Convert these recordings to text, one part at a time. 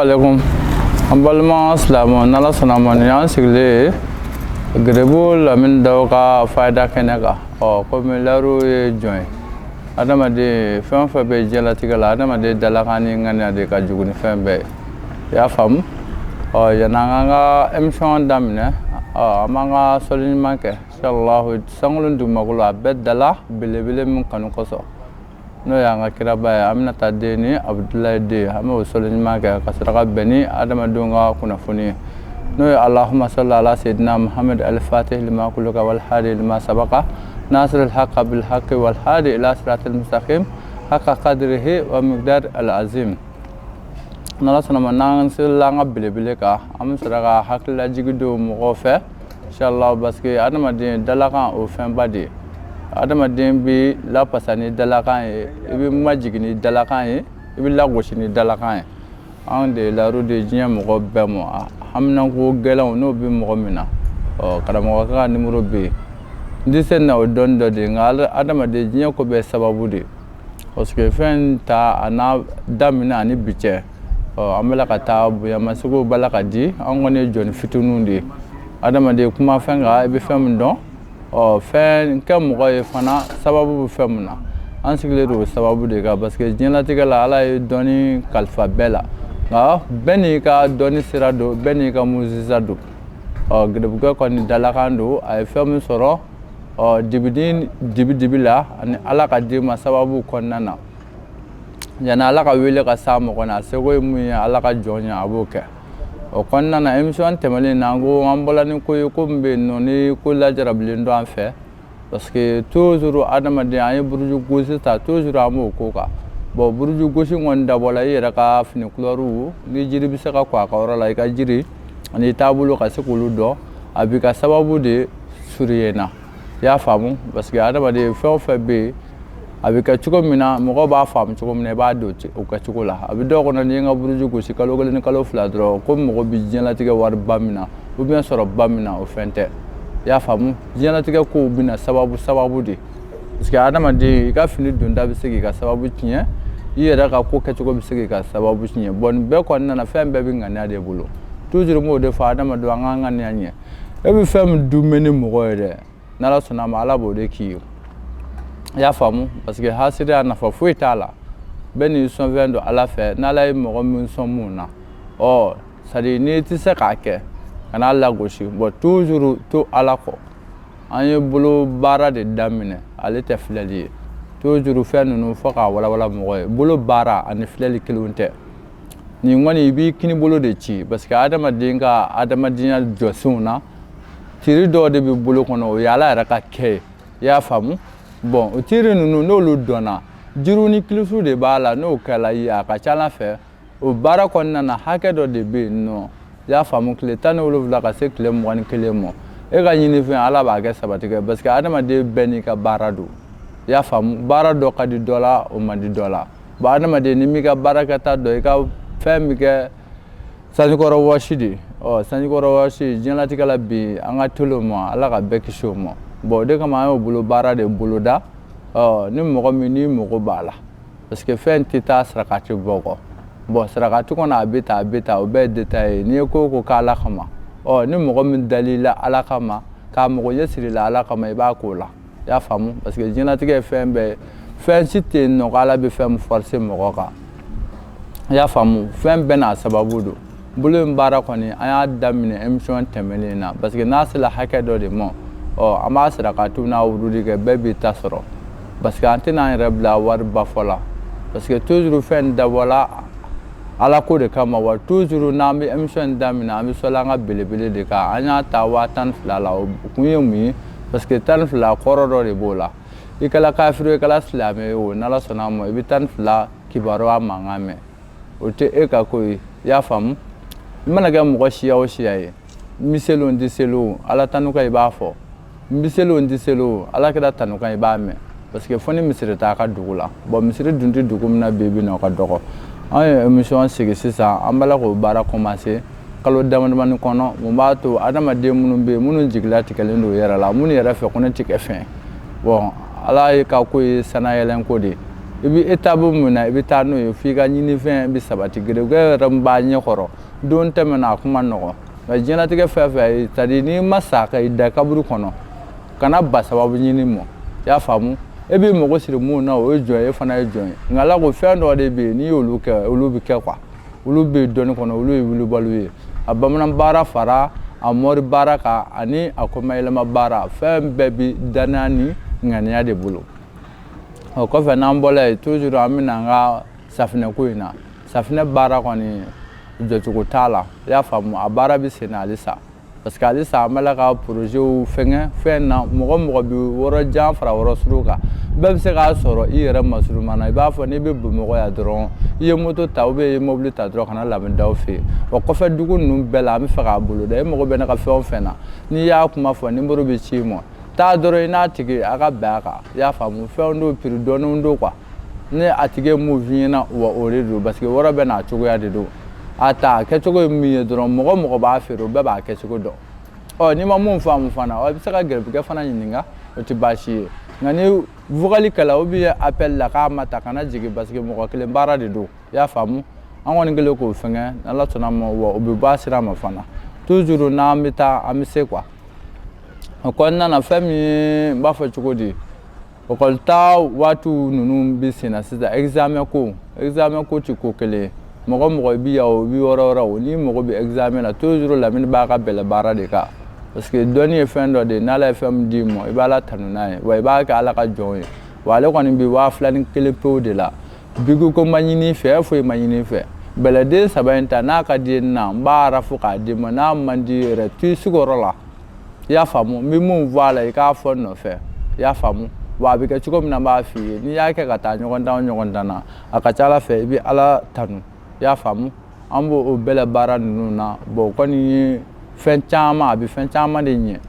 aleykum. An balima silamɛw n'ala sɔnna a ma nin y'an sigilen ye gerebu Lamini Daw ka fayida kɛnɛ kan ɔ komi lariw ye jɔn ye adamaden fɛn o fɛn bɛ diɲɛlatigɛ la adamaden dalakan ni ŋaniya de ka jugu ni fɛn bɛɛ ye i y'a faamu ɔ yanni an k'an ka emisiyɔn daminɛ ɔ an b'an ka sɔli ɲuman kɛ inshallah sankolo ni dugumakolo a bɛɛ dala belebele min kanu kosɔn n'o y'an ka kiraba ye Aminata den ni Abudulayi den an bɛ sɔli ɲuman kɛ ka saraka bɛn ni adamadenw ka kunnafoni ye n'o ye allahumma salli ala sayyidina muhammad al-fatih lima ughliqa wal khatim lima sabaqa nasir al-haqq bil haqq wal hadi ila siratal mustaqim haqqa qadrihi wa miqdar al-azim n'ala sɔnna a ma n'an sela an ka belebele kan an bɛ saraka hakililajigi don mɔgɔw fɛ inshallah parce que adamaden dalakan o fɛnba de ye adamaden bɛ lafasa ni dalakan ye i bɛ majigin ni dalakan ye i bɛ lagosi ni dalakan ye anw de lauru de diɲɛ mɔgɔ bɛɛ mɔgɔ haminako gɛlɛn n'o bɛ mɔgɔ min na ɔ karamɔgɔ ka nimɔrɔ bɛ yen n tɛ se na o dɔn dɔ de nka adamaden diɲɛ ko bɛ sababu de ye parce que fɛn ta a n'a daminɛ ani bi cɛ an b'ala ka ta bonyamasegin barika di an kɔni ye jɔn fitinin de ye adamaden kuma fɛn i bɛ fɛn min dɔn ɔ fɛn kɛ mɔgɔ ye fana sababu bɛ fɛn min na an sigilen don sababu de kan parce que diɲɛlatigɛ la ala ye dɔni kalifa bɛɛ la nka bɛɛ n'i ka dɔni sira don bɛɛ n'i ka mujiza don ɔ gerebu kɔni dalakan don a ye fɛn min sɔrɔ ɔ dibi dibi dibi la ani ala k'a di i ma sababu kɔnɔna na yanni ala ka wele ka se mɔgɔ ma a seko ye min ye ala ka jɔn ye a b'o kɛ o kɔnɔna na emisiyɔn tɛmɛnen na an ko an bɔla ni ko ye ko min bɛ yen nɔ ni ko lajarabilen don an fɛ parce que toujours adamaden an ye buruju gosi ta toujours an b'o ko kan bɔn buruju gosi kɔni dabɔla i yɛrɛ ka fini kulɛriw ni jiri bɛ se ka kɔ a ka yɔrɔ la i ka jiri ani taabolo ka se k'olu dɔn a b'i ka sababu de surunya na i y'a faamumu parce que adamaden fɛn o fɛn bɛ yen a bɛ kɛ cogo min na mɔgɔ b'a faamu cogo min na i b'a dɔn o kɛ cogo la a bɛ dɔw kɔnɔ n'i y'i ka buruju gosi kalo kelen ni kalo fila dɔrɔn ko mɔgɔ bɛ diɲɛlatigɛ wariba min na ou bien sɔrɔba min na o fɛn tɛ i y'a faamumu diɲɛlatigɛ kow bɛ na sababu sababu de parce que adamaden i ka fini donta bɛ se k'i ka sababu tiɲɛ i yɛrɛ ka ko kɛcogo bɛ se k'i ka sababu tiɲɛ bɔn nin bɛɛ kɔnɔna na fɛn bɛɛ bɛ ŋaniya de bolo toujours n b'o de fɔ adamadenw an k'an ka ɲɛ e bɛ fɛn min dun bɛ ni mɔgɔ ye dɛ n'ala sɔnna a ma ala b'o de k'i ye i y'a faamu parce que hasidiya nafa foyi t'a la bɛɛ n'i sɔnfɛn don ala fɛ n'ala ye mɔgɔ min sɔn mun na ɔ c'est-à-dire n'i tɛ se k'a kɛ kan'a lagosi bon toujours to ala kɔ an ye bolo baara de daminɛ ale tɛ filɛli ye toujours fɛn ninnu fɔ k'a walawala mɔgɔ ye bolo baara ani filɛli kelenw tɛ nin kɔni i b'i kini bolo de ci parce que adamaden ka adamadenya jɔsenw na tiri dɔw de bɛ bolo kɔnɔ o ye ala yɛrɛ ka kɛ ye i y'a faamu bon o tiri ninnu n'olu dɔnna jiriw ni kilisiw de b'a la n'o kɛla ye a ka ca ala fɛ o baara kɔnɔna na hakɛ dɔ de bɛ yen nɔ i y'a faamu tile tan ni wolonwula ka se tile mugan ni kelen ma e ka ɲinifɛn ala b'a kɛ sabati kɛ parce que adamaden bɛɛ n'i ka baara don i y'a faamu baara dɔ ka di dɔ la o man di dɔ la Bon adamaden n'i m'i ka baarakɛta dɔn i ka fɛn min kɛ sanjikɔrɔ wɔsi de ye ɔ sanjikɔrɔ wɔsi diɲɛlatigɛ la bi an ka teli o ma ala ka bɛɛ kisi o ma bon o de kama an y'o bolo baara de boloda ɔ ni mɔgɔ min n'i mago b'a la parce que fɛn tɛ taa sarakati bɔ kɔ bon sarakati kɔnɔ a bɛ ta a bɛ ta o bɛɛ de ta ye n'i ye ko ko k'ala kama ɔ ni mɔgɔ min dal'i la ala kama k'a mago ɲɛ sir'i la ala kama i b'a k'o la i y'a faamu parce que diɲɛlatigɛ ye fɛn bɛɛ ye fɛn si tɛ yen nɔ ko ala bɛ fɛn min forcé mɔgɔ kan i y'a faamu fɛn bɛɛ n'a sababu don bolo in baara kɔni an y'a daminɛ émission tɛmɛnen na parce que n'a sera hakɛ dɔ de ma ɔ an b'a sarakatiw n'a wurudi kɛ bɛɛ b'i ta sɔrɔ parce que an tɛna an yɛrɛ bila wari ba fɔ la parce que toujours fɛn dabɔla ala ko de kama wa toujours n'an bɛ émission daminɛ an bɛ sɔli an ka belebele de kan an y'a ta waa tan ni fila la o kun ye mun ye parce que tan ni fila kɔrɔ dɔ de b'o la i kɛla kafiri i kɛla silamɛ ye o n'ala sɔnna a ma i bɛ tan ni fila kibaruya mankan mɛn o tɛ e ka ko ye i y'a faamu i mana kɛ mɔgɔ siya o siya ye n bɛ seli o n tɛ seli o ala tanu kan i b'a fɔ n bɛ seli o n tɛ seli o ala kira tanu kan i b'a mɛn parce que fo ni misiri t'a ka dugu la bon misiri dun tɛ dugu min na bi bi na o ka dɔgɔ an ye emission sigi sisan an b'a la k'o baara commencer kalo damadamani kɔnɔ mun b'a to adamaden minnu bɛ yen minnu jigilatigɛlen don yɛrɛ la minnu yɛrɛ fɛ ko ne tɛ kɛ fɛn bon ala ye ka ko ye sanayɛlɛn ko de i bɛ e taabolo min na i bɛ taa n'o ye f'i ka ɲinifɛn bɛ sabati gere yɛrɛ b'a ɲɛkɔrɔ don tɛmɛna a kuma nɔgɔ nka diɲɛlatigɛ fɛn c'est-à-dire n'i ma sa ka i da kaburu kɔnɔ kana ban sababu ɲini ma i y'a faamu e b'i mago siri minnu na o ye jɔn ye e fana ye jɔn ye nka ala ko fɛn dɔ de bɛ yen n'i y'olu kɛ olu bɛ kɛ quoi olu bɛ dɔnni kɔnɔ olu ye wulibaliw ye a bamanan baara fara a mɔri baara kan ani a kɔmayɛlɛma baara fɛn bɛɛ bi dannaya ni ŋaniya de bolo o kɔfɛ n'an bɔla yen toujours an bɛ na an ka safinɛ ko in na safinɛ baara kɔni jɔcogo t'a la i y'a faamu a baara bɛ sen na halisa parce que alisa an b'a la ka porozew fɛngɛ fɛn na mɔgɔ mɔgɔ bɛ wɔrɔ jan fara wɔrɔ surun kan bɛɛ bɛ se k'a sɔrɔ i yɛrɛ masuruma na i b'a fɔ n'i bɛ bamakɔ yan dɔrɔn i ye moto ta ou bien i ye mobili ta dɔrɔn ka na lamini daw fɛ yen wa kɔfɛ dugu ninnu bɛɛ la an bɛ fɛ k'a bolo da e mago bɛ ne ka fɛn o fɛn na n'i y'a kuma fɔ nimoro bɛ ci i ma taa dɔrɔn i n'a tigi a ka bɛn a kan i y'a faamu fɛn dɔw piri dɔnnen don quoi ni a tigi ye mun f'i ɲɛna wa o de don parce que wɔrɔ bɛɛ n'a cogoya de don a ta kɛcogo ye min ye dɔrɔn mɔgɔ mɔgɔ b'a feere o bɛɛ b'a kɛcogo dɔn ɔ n'i ma mun faamu fana i bɛ se ka garibukɛ fana ɲininka o tɛ baasi ye nka ni vokali kɛla ou bien apɛli la k'a ma ta kana jigin parce que mɔgɔ kelen baara de don i y'a faamu an kɔni kɛlen k'o fɛngɛ n'ala sɔnna ma wa o bɛ bɔ a sira ma fana toujours n'an bɛ taa an bɛ se quoi o kɔnɔna na fɛn min ye n b'a fɔ cogo di Ekɔli ta waati ninnu bɛ sen na sisan examen ko examen ko ti ko kelen mɔgɔ mɔgɔ i bi o bɛ yɔrɔ yɔrɔ o ni mɔgɔ bɛ examen na toujours lamini b'a ka bɛlɛ baara de kan parce que dɔnni ye fɛn dɔ de ye n'ala ye fɛn d'i ma i b'ala tanu n'a ye wa i b'a kɛ ala ka jɔn ye wa ale kɔni bɛ waa fila ni kelen pew de la biku ko ma ɲini i fɛ foyi ma ɲini i fɛ bɛlɛden saba in ta n'a ka di na n b'a fɔ k'a d'i ma n'a man di yɛrɛ to i sigiyɔrɔ la i y'a faamu n bɛ mun fɔ a la i k'a fɔ n nɔfɛ i y'a faamu wa a bɛ kɛ cogo min na n b'a f'i ye n'i y'a kɛ ka taa ɲɔgɔndan o ɲɔgɔndan na a ka ca ala fɛ i bɛ ala tanu i y'a faamu an b'o o bɛlɛ baara ninnu na bɔn o kɔni ye fɛn caman a bɛ fɛn caman de ɲɛ i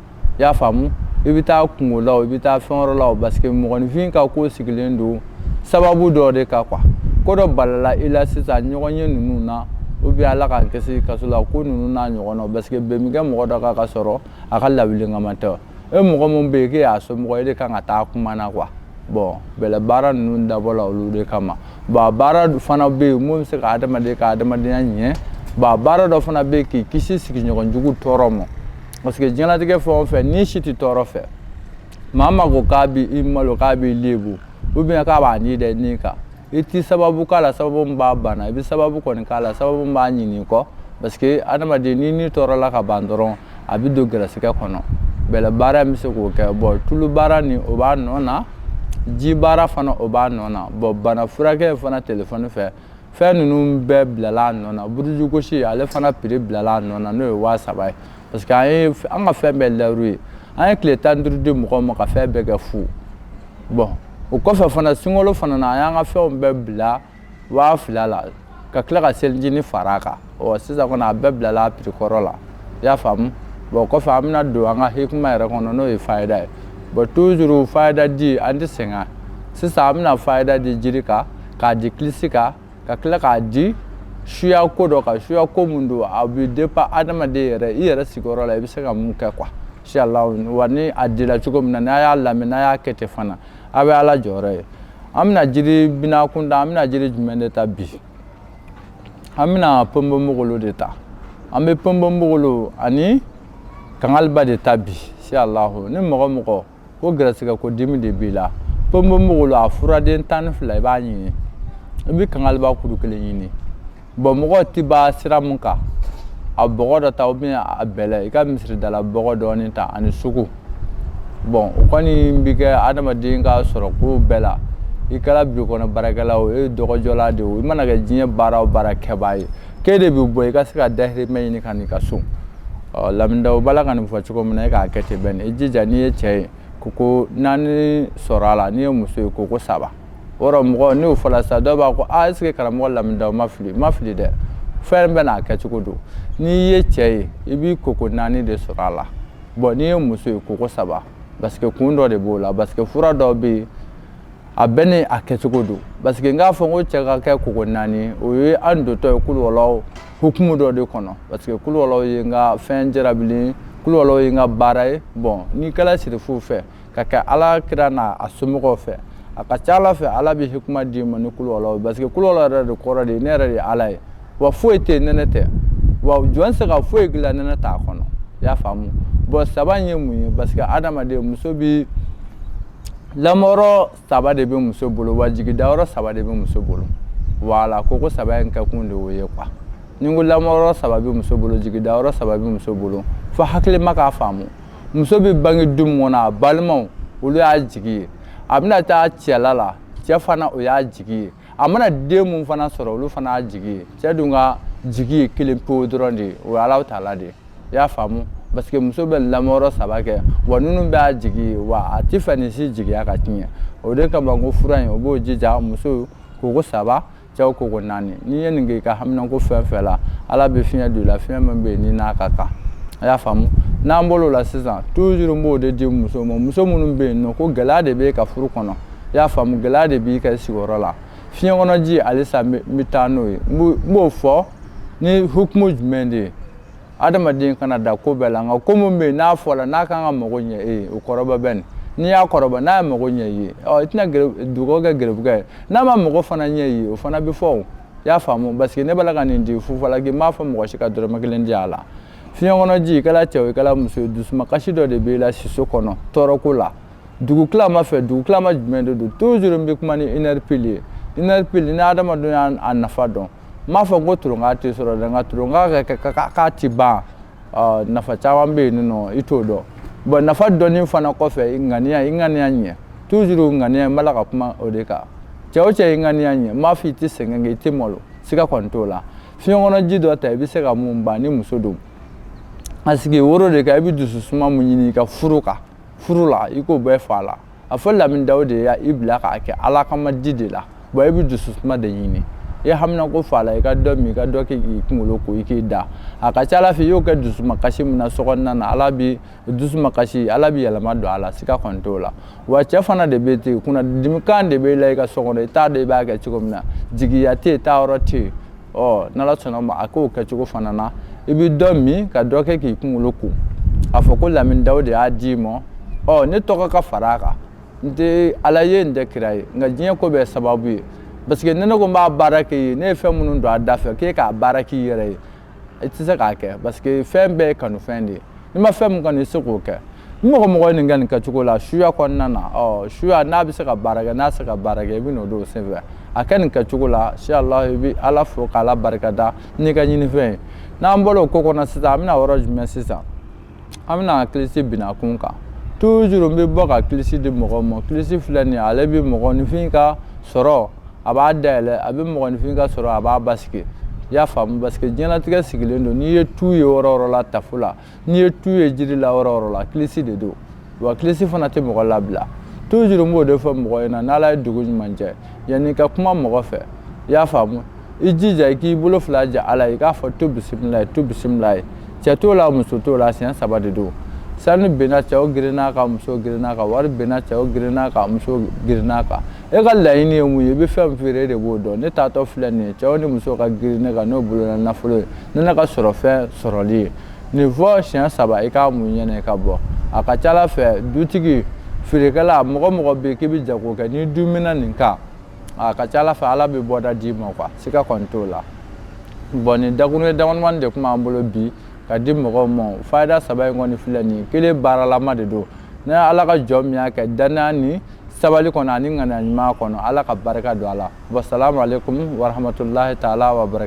y'a faamu i bɛ taa kungo la o i bɛ taa fɛn wɔrɔ la o parce que mɔgɔninfin ka ko sigilen don sababu dɔ de kan quoi ko dɔ balala i la sisan ɲɔgɔnye ninnu na u bɛ ala k'an kisi kaso la ko ninnu n'a ɲɔgɔn na parce que bɛn bi kɛ mɔgɔ dɔ kan k'a sɔrɔ a ka lawulinkama tɛ e mɔgɔ min bɛ yen k'e y'a somɔgɔ e de kan ka taa kuma na quoi bɔn bɛlɛ baara ninnu dabɔla olu de kama bɔn a baara fana bɛ yen mun bɛ se ka adamaden ka adamadenya ɲɛ bɔn a baara dɔ fana bɛ yen k'i kisi sigiɲɔgɔn jugu tɔɔrɔ ma parce que diɲɛlatigɛ fɛn o fɛn ni si tɛ tɔɔrɔ fɛ maa maa ko k'a bi i malo k'a b'i lebu ou bien k'a b'a ni dɛ ni kan i ti sababu k'a la sababu min b'a bana i bɛ sababu kɔni k'a la sababu min b'a ɲinɛ i kɔ parce que adamaden ni ni tɔɔrɔla ka ban dɔrɔn a bɛ don gɛrɛsɛgɛ kɔnɔ bɛlɛ baara bɛ se k'o kɛ bɔn tulu baara ni o b'a nɔ na ji baara fana o b'a nɔ na bɔn bana furakɛ fana telefɔni fɛ fɛn ninnu bɛɛ bilala a nɔ na buruju gosi ale fana piri bilala a nɔ na n'o ye waa saba ye parce que an ye an ka fɛn bɛɛ lɛru ye an ye tile tan duuru di mɔgɔw ma ka fɛn bɛɛ kɛ fu bɔn o kɔfɛ fana sunkalo fana na an y'an ka fɛnw bɛɛ bila waa fila la ka tila ka selicinin fara a kan ɔ sisan kɔni a bɛɛ bilala a pirikɔrɔ la i y'a faamu bɔn kɔfɛ an bɛna don an ka hikima yɛrɛ kɔnɔ n'o ye fayida ye bɔn tuzuru fayida di an tɛ sɛgɛn sisan an bɛna fayida di jiri kan k'a di kilisi kan ka tila k'a di suya ko dɔ kan suya ko min don a bɛ depa adamaden yɛrɛ i yɛrɛ sigiyɔrɔ la i bɛ se ka mun kɛ kuwa siyala wa ni a dilan cogo min na n'a y'a lamɛn n'a y'a kɛ ten fana a bɛ ala jɔyɔrɔ ye an bɛna jiri binakun da an bɛna jiri jumɛn de ta bi an bɛna pɔnpɔnbogolo de ta an bɛ pɔnpɔnbogolo ani kangaliba de ta bi si alahu ni mɔgɔ mɔgɔ ko garisɛgɛ ko dimi de b'i la pɔnpɔnbogolo a furaden tan ni fila i b'a ɲini i bɛ kangaliba kuru kelen ɲini bɔn mɔgɔ tɛ ban sira mun kan a bɔgɔ dɔ ta ubiyɛn a bɛlɛ i ka misiridala bɔgɔ dɔɔni ta ani sugu bɔn o kɔni bɛ kɛ adamaden ka sɔrɔ ko bɛɛ la i kɛra biro kɔnɔ baarakɛla o e dɔgɔjɔla de o i mana kɛ diɲɛ baara o baara kɛbaa ye k'e de bɛ bɔ i ka se ka dahirimɛ ɲini ka n'i ka so ɔ lamini dawo b'a la ka nin fɔ cogo min na e k'a kɛ ten bɛɛ ni i jija n'i ye cɛ ye koko naani sɔrɔ a la n'i ye muso ye koko saba o yɔrɔ mɔgɔ n'o fɔla sa dɔw b'a ko a est ce que karamɔgɔ lamini dawo ma fili ma fili dɛ fɛn bɛɛ n'a kɛcogo don n'i ye cɛ ye i b'i koko naani de sɔrɔ a la bɔn n'i ye muso ye koko saba parce que kun dɔ de b'o la parce que fura dɔw bɛ yen a bɛɛ n'a kɛcogo don parce que n k'a fɔ ko cɛ ka kɛ koko naani o ye an dontɔ ye kuluwalahu hukumu dɔ de kɔnɔ parce que kuluwalahu ye n ka fɛn jarabili kuluwalahu ye n ka baara ye bɔn n'i kɛra sirifu fɛ ka kɛ ala kira n'a a somɔgɔw fɛ a ka ca ala fɛ ala bɛ hikima d'i ma ni kuluwalahu parce que kuluwalahu yɛrɛ de kɔrɔ de ye ne yɛrɛ de ye ala ye wa foyi tɛ ni ne tɛ wa jɔn se ka foyi dilan ni ne t'a kɔnɔ i y'a faamu bɔn saba ye mun ye parce que adamaden muso bi lamɔyɔrɔ saba de bɛ muso bolo wa jigidayɔrɔ saba de bɛ muso bolo wala koko saba in kɛkun de o ye kuwa ni ko lamɔyɔrɔ saba bɛ muso bolo jigidayɔrɔ saba bɛ muso bolo fo hakilima k'a faamu muso bɛ bange du min kɔnɔ a balimaw olu y'a jigi ye a bɛna taa cɛla la cɛ fana o y'a jigi ye a mana den min fana sɔrɔ olu fana y'a jigi ye cɛ dun ka jigi ye kelen pewu dɔrɔn de ye o ye alahu taala de ye i y'a faamu parce que muso bɛ lamɔyɔrɔ saba kɛ wa ninnu bɛɛ y'a jigi ye wa a t'a fɛ nin si jigiya ka tiɲɛ o de kama ko fura in o b'o jija muso koko saba cɛw koko naani n'i ye nin kɛ i ka haminanko fɛn fɛn la ala bɛ fiɲɛ don i la fiɲɛ min bɛ yen ni n'a ka kan a y'a faamu n'an bolo la sisan tuzuru n b'o de di muso ma muso minnu bɛ yen n'o ko gɛlɛya de b'i ka furu kɔnɔ i y'a faamu gɛlɛya de b'i ka sigiyɔrɔ la fiɲɛ kɔnɔ ji halisa n bɛ taa n'o ye n b'o fɔ ni hukumu jumɛn de ye adamaden kana da ko bɛɛ la nka ko min bɛ yen n'a fɔra n'a kan ka mago ɲɛ e ye o kɔrɔbɔ bani n'i y'a kɔrɔbɔ n'a ye mago ɲɛ i ye ɔ i tɛna dugawu kɛ gɛrɛbugɛ ye n'a ma mago fana ɲɛ i ye o fana bɛ fɔ i y'a faamu parce que ne b'a la ka nin di fufalaki n m'a fɔ mɔgɔ si ka dɔrɔmɛ kelen di a la fiɲɛ kɔnɔ ji i kɛra cɛ o i kɛra muso ye dusumakasi dɔ de b'i la siso kɔnɔ tɔɔrɔko la dugutilama fɛ dugutilama jumɛn de don toujours n bɛ kuma ni une heure pile ye une heure pile ni adamadenw y'a nafa dɔn n m'a fɔ ko turonka tɛ sɔrɔ dɛ nka turonka k'a tɛ ban nafa caman bɛ yen nɔ i t'o dɔn bon nafa dɔnni fana kɔfɛ i ŋaniya i ŋaniya ɲɛ toujours ŋaniya n b'a la ka kuma o de kan cɛ o cɛ i ŋaniya ɲɛ n m'a fɔ i tɛ sɛgɛn kɛ i tɛ malo siga kɔni t'o la fiɲɛ kɔnɔ ji dɔ ta i bɛ se ka mun ban ni muso don a sigi woro de kan i bɛ dusu suma min ɲini i ka furu kan furu la i k'o bɛɛ f'a la a fɔ lamin daw de ye i bila k'a kɛ ala kama di de la bon i bɛ dusu suma de ɲini i haminanko f'a la i ka dɔ min i ka dɔ kɛ k'i kunkolo ko i k'i da a ka ca ala fɛ i y'o kɛ dusumakasi min na sokɔnɔna na ala bi dusumakasi ala bi yɛlɛma don a la siga kɔni t'o la wa cɛ fana de bɛ ten kunna dimikan de b'i la i ka so kɔnɔ i t'a dɔn i b'a kɛ cogo min na jigiya tɛ yen taayɔrɔ tɛ yen ɔ n'ala sɔnna ma a k'o kɛcogo fana na i bɛ dɔ min ka dɔ kɛ k'i kunkolo ko a fɔ ko lamin daw de y'a d'i ma ɔ ne tɔgɔ ka fara a kan n tɛ ala ye n tɛ kira ye nka diɲɛ ko bɛɛ sababu ye parce que ne ne ko n b'a baara k'i ye ne ye fɛn minnu don a da fɛ k'e k'a baara k'i yɛrɛ ye i tɛ se k'a kɛ parce que fɛn bɛɛ ye kanufɛn de ye n'i ma fɛn min kanu i tɛ se k'o kɛ ni mɔgɔ o mɔgɔ ye nin kɛ nin kɛcogo la suya kɔnɔna na ɔ suya n'a bɛ se ka baara kɛ n'a tɛ se ka baara kɛ i bɛn'o dɔn o senfɛ a kɛ nin kɛcogo la inshallah i bɛ ala fo k'ala barika da n'i ka ɲinifɛn ye n'an bɔra o ko kɔnɔ sisan an bɛna yɔrɔ jumɛn sisan an bɛna kilisi bina kun kan toujours n bɛ bɔ ka kilisi di mɔgɔ ma kilisi filɛ nin ye ale bɛ mɔgɔninfin ka sɔrɔ a b'a dayɛlɛ a bɛ mɔgɔninfin ka sɔrɔ a b'a basigi i y'a faamu parce que diɲɛlatigɛ sigilen don n'i ye tu ye yɔrɔ o yɔrɔ la tafo la n'i ye tu ye jiri la yɔrɔ o yɔrɔ la kilisi de don wa kilisi fana tɛ mɔgɔ labila toujours n b'o de fɔ mɔgɔ ɲɛna n'ala ye dugu ɲuman jɛ yanni ka kuma mɔgɔ fɛ i y'a faamu i jija i k'i bolo fila ja ala i k'a fɔ tu bisimilayi tu bisimilayi cɛ t'o la muso t'o la siɲɛ saba de don sanu benna cɛw girinna kan muso girinna kan wari benna cɛw girinna kan muso girinna kan e ka laɲini ye mun ye i bɛ fɛn min feere e de b'o dɔn ne taatɔ filɛ nin ye cɛw ni musow ka girin ne kan n'o bolona nafolo ye ni ne ka sɔrɔ fɛn sɔrɔli ye nin fɔ siɲɛ saba i k'a mun i ɲɛ na i ka bɔ a ka ca ala fɛ dutigi feerekɛla mɔgɔ o mɔgɔ bɛ yen k'i bɛ jago kɛ n'i duumɛna nin kan a ka ca ala fɛ ala bɛ bɔda d'i ma quoi siga kɔni t'o la bon nin dakuruɲɛ damadamani de tun b'an bolo bi ka di mɔgɔw ma fayida saba in kɔni filɛ nin ye kelen baaralama de don ni ala ka jɔn min y'a kɛ dannaya ni sabali kɔnɔ ani ŋaniya ɲuman kɔnɔ Ala ka barika don a la wa salamu aleyikumu wa rahamatulahi taala wa barak